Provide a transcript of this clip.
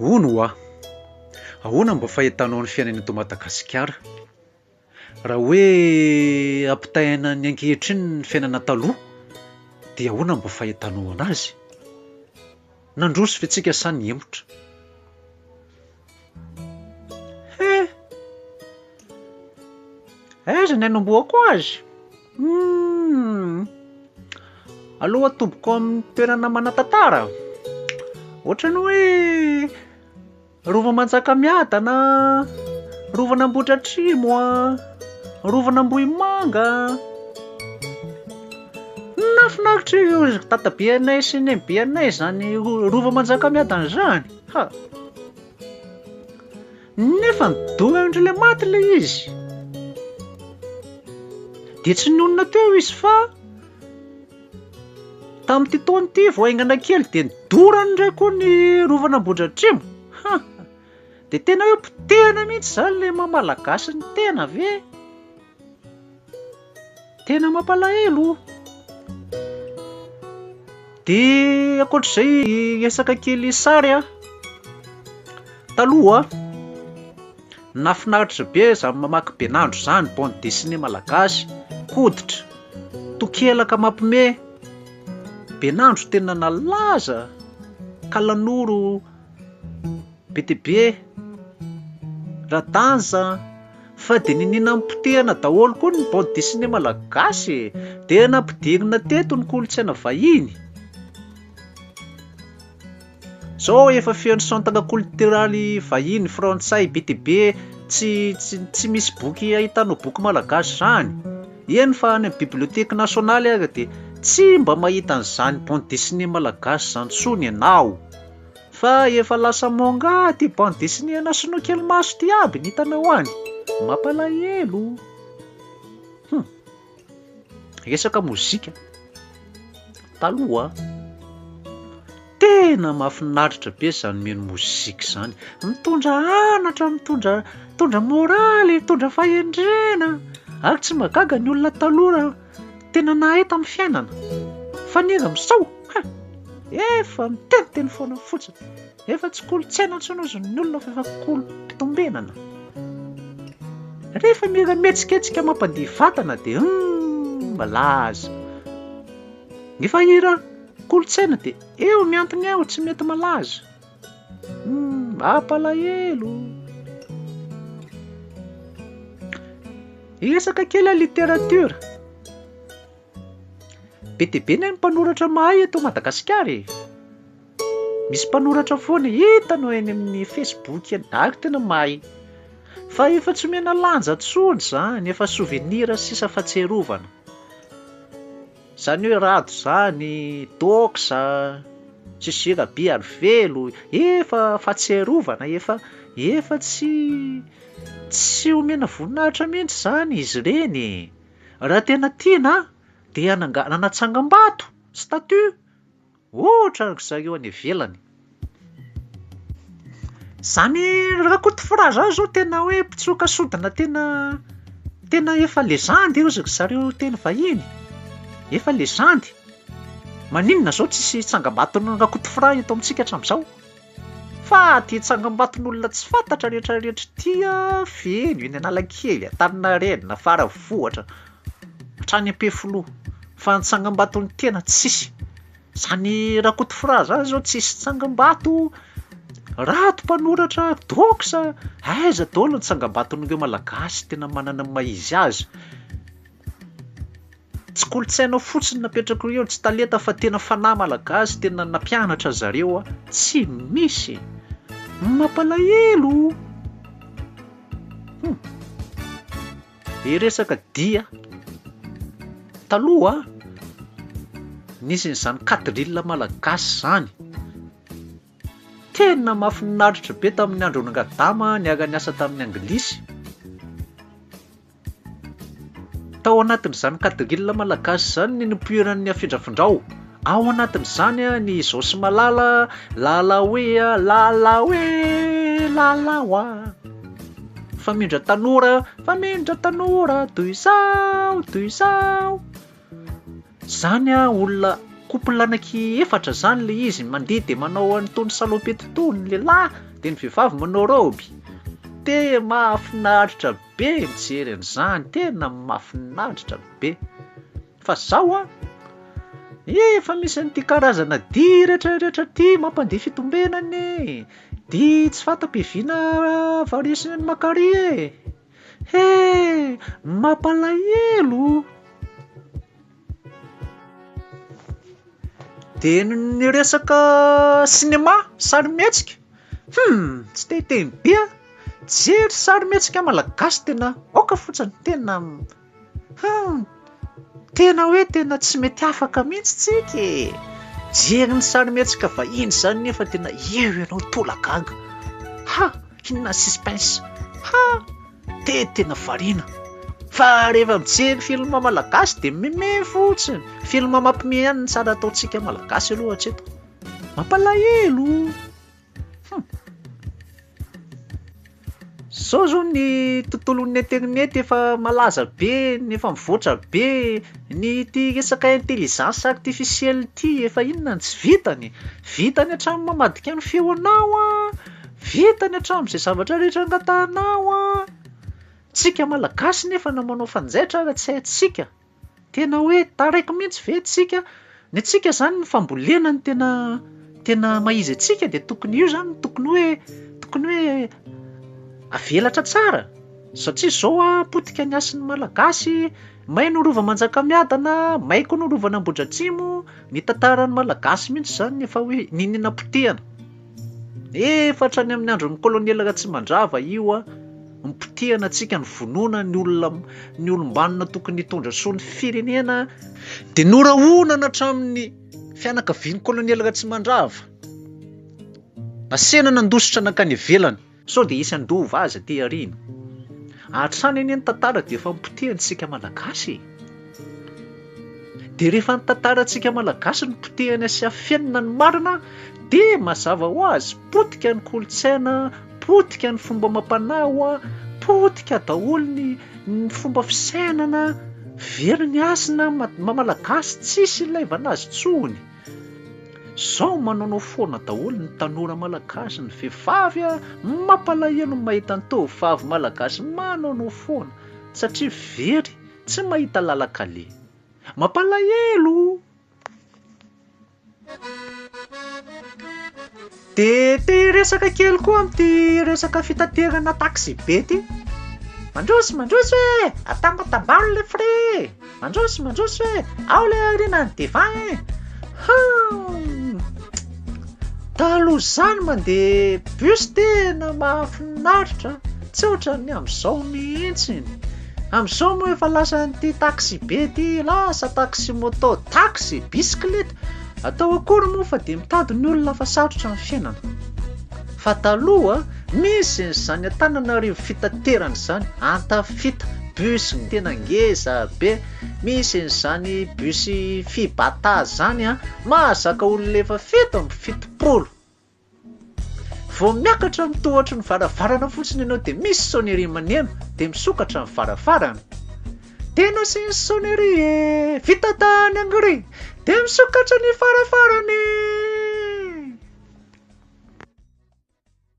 Hono hoa! Ahoana mba fahitanao ny fiainana eto Madagasikara? Raha hoe ampitahaina ny ankehitriny ny fiainana taloha dia ahoana mba fahitanao anazy? Nandroso ve tsika sa nihemotra? He! Aiza ny anombohako azy? Hum! Aleo atobiko amin'ny toerana manan-tantara. Ohatran'ny hoe Rova Manjakamiadana, Rovan'Ambohidratrimo, Rovan'Ambohimanga. Nahafinaritra io dadabe anay sy nenibe anay izany Rova Manjakamiadana izany. Ha! Nefa nidoha indray ilay maty ilay izy. Dia tsy nionona teo izy fa tamin'ity taona ity vao haingana kely dia nidorany indray koa ny rovana Ambohidratrimo. Ha! Dia tena hoe potehana mihitsy izany ilay maha malagasy ny tena ve? Tena mampalahelo o! Dia ankoatr'izay hiresaka kely sary a! Taloha nahafinaritra be izany mamaky Benandro izany, bande dessinée malagasy, koditra, tokelaka mampime. Benandro tena nalaza ka nanoro. Be dia be e! Raha danza an! Fa dia niniana nipotehana daholo koa ny bande dessinée malagasy e! Dia nampidirina teto ny kolontsaina vahiny! Zao efa feno centre cultural vahiny frantsay be dia be tsy tsy misy boky ahitanao boky malagasy zany! Eny fa any amin'ny bibliothèque nationale aza dia tsy mba mahita an'izany bande dessinée malagasy zany intsony ianao! Fa efa lasa manga ty bande dessinée ana sinoa kely maso ty aby ny hitanao any. Mampalahelo. Hum. Resaka mozika. Taloha. Tena mafinaritra be zany mino mozika zany. Mitondra anatra, mitondra, mitondra morale, mitondra fahendrena. Ary tsy magaga ny olona taloha tena nahay tamin'ny fiainana. Fa ny iza misao? Hein! Efa miteniteny foana fotsiny. Efa tsy kolontsaina intsony hozy ny olona fa efa kolom-pitombenana. Rehefa mila mihetsiketsika mampandihy vatana dia humm malaza. Efa hira kolontsaina dia eo miantona eo tsy mety malaza. Mampalahelo! Hiresaka kely ny literatiora. Be dia be ny mpanoratra mahay eto Madagasikara e. Misy mpanoratra foana hitanao eny amin'ny Facebook eny, ary tena mahay. Fa efa tsy omena lanja intsony izany, efa souvenir sisa fahatsiarovana. Zany hoe rado zany, doxa, Jiji Rabearivelo, efa fahatsiarovana, efa efa tsy tsy omena voninahitra mihitsy zany izy ireny e! Raha tena tiana an, dia hanangana tsangam-bato, statut, Ohatra ry zareo any ivelany. Zany Rakotofora zany zao tena hoe mpitsoka sodina tena tena efa legendy io ry zareo teny vahiny. Efa legendy. Maninona zao tsisy tsangambaton'i Rakotofora eto amintsika hatramizao? Fa de tsangambaton'olona tsy fantatra retraretra ity an, feno eny Analakely, Antaninarenina, Faravohitra, Hatrany Ampefiloha. Fa ny tsangambaton'ny tena tsisy. Zany Rakotofra zany zao tsisy tsangambato, Rato mpanoratra, dox, aiza daholo ny tsangambaton'ireo malagasy tena manana ny maha izy azy. Tsy kolontsainao fotsiny napetrako eo, tsy talenta fa tena fanahy malagasy tena nampianatra zareo tsy misy. Mampalahelo. Hum. Dia resaka dia, taloha nisy an'izany katilina malagasy izany, tena mahafinaritra be tamin'ny andron'i Rangadama niara niasa tamin'ny anglisy, tao anatin'izany katilina malagasy izany ny nipoiran'ny afindrafindrao. Ao anatin'izany ny Izaho sy Malala, Lala oe a, Lala oe, Lala oa. Famindra tanora, Famindra tanora, toy izao, toy izao. Zany a olona couple anaky efatra zany le izy mandeha de manao an'itony salopette itony ny lehilahy de ny vehivavy manao robe te mahafinaritra be mijery an'izany tena mahafinaritra be Fa zao an! Efa misy an'ity karazana dihy retraretra ity mampandihy fitombenana e! Dihy tsy fanta-piaviana variation an'i Makary e! He! Mampalahelo o! Dia ny resaka sinema, sarimihetsika, hum! tsy te hiteny be an! Tsy jery sarimihetsika malagasy tena aoka fotsiny tena Humm! Tena hoe tena tsy mety afaka mihitsy tsika e! Jery ny sarimihetsika vahiny izany nefa tena eo ianao tolagaga! Ha! Inona suspense! Ha! Te tena variana! Fa rehefa mijery film malagasy dia meme fotsiny! Film mampimehy ihany ny tsara ataontsika malagasy aloha hatreto! Mampalahelo! Hum. Zao zao ny tontolon'ny internet efa malaza be, efa mivoatra be, ny ity resaka intelligence artificielle ity efa inona no tsy vitany? Vitany hatramin'ny mamadika ny feonao an, vitany hatramin'izay zavatra rehetra angatahanao an. Tsika malagasy nefa no manao fanjaitra raha tsy haintsika. Tena hoe taraiky mihintsy ve antsika? Ny antsika zany ny fambolena no tena tena maha izy antsika dia tokony io zany no tokony hoe tokony hoe avelatra tsara satria zao a potika ny hasin'ny malagasy, may no rova manjakamiadana, may koa no rovan'ambohidratrimo, ny tantaran'ny malagasy mihintsy zany ny efa hoe niniana potehana. Efa hatrany amin'ny andron'ny kolonely Ratsimandrava io an, nipotehana antsika ny vonoana ny olona ny olom-banona tokony hitondra soa ny firenena dia norahonana hatramin'ny fianakavian'ny kolonely Ratsimandrava. Nasehana nandositra nankany ivelany. Sao dia hisy handova azy aty aoriana? Hatrany anie ny tantara dia efa nopotehantsika Malagasy e! Dia rehefa ny tantarantsika Malagasy no potehana sy afenina ny marina dia mazava ho azy potika ny kolontsaina, potika ny fomba amam-panao, potika daholo ny ny fomba fisainana, very ny hasina, maha-Malagasy tsisy ilaivana azy intsony. Zao manaonao foana daholo ny tanora malagasy ny vehivavy a! Mampalahelo ny mahita ny tovovavy malagasy manaonao foana satria very tsy mahita lalan-kale. Mampalahelo! Dia te hiresaka kely koa amin'ity resaka fitaterana taxi be ity. Mandroso mandroso e! Atambatambaro le frais e! Mandroso mandroso e! Ao le aoriana ny devant e! Hum! Taloha izany mandeha bus tena mahafinaritra, tsy ohatran'ny amin'izao mihitsy. Amin'izao moa efa lasan'ity taxi be ity, lasa taxi moto, taxi, bisiklet, Atao akory moa fa dia mitady ny olona fa sarotra ny fiainana. Fa taloha misy ny zany Antananarivo fitaterana izany, antafita, bus tena ngeza be, misy ny zany bus fibata zany an, mahazaka olona efa fito amby fitopolo. Vao miakatra ny tohotry ny varavarana fotsiny ianao dia misy sonnerie maneno dia misokatra ny varavarana. Dia nasiany sonnerie e! Vita tany Hongrie! Dia misokatra ny varavarana e!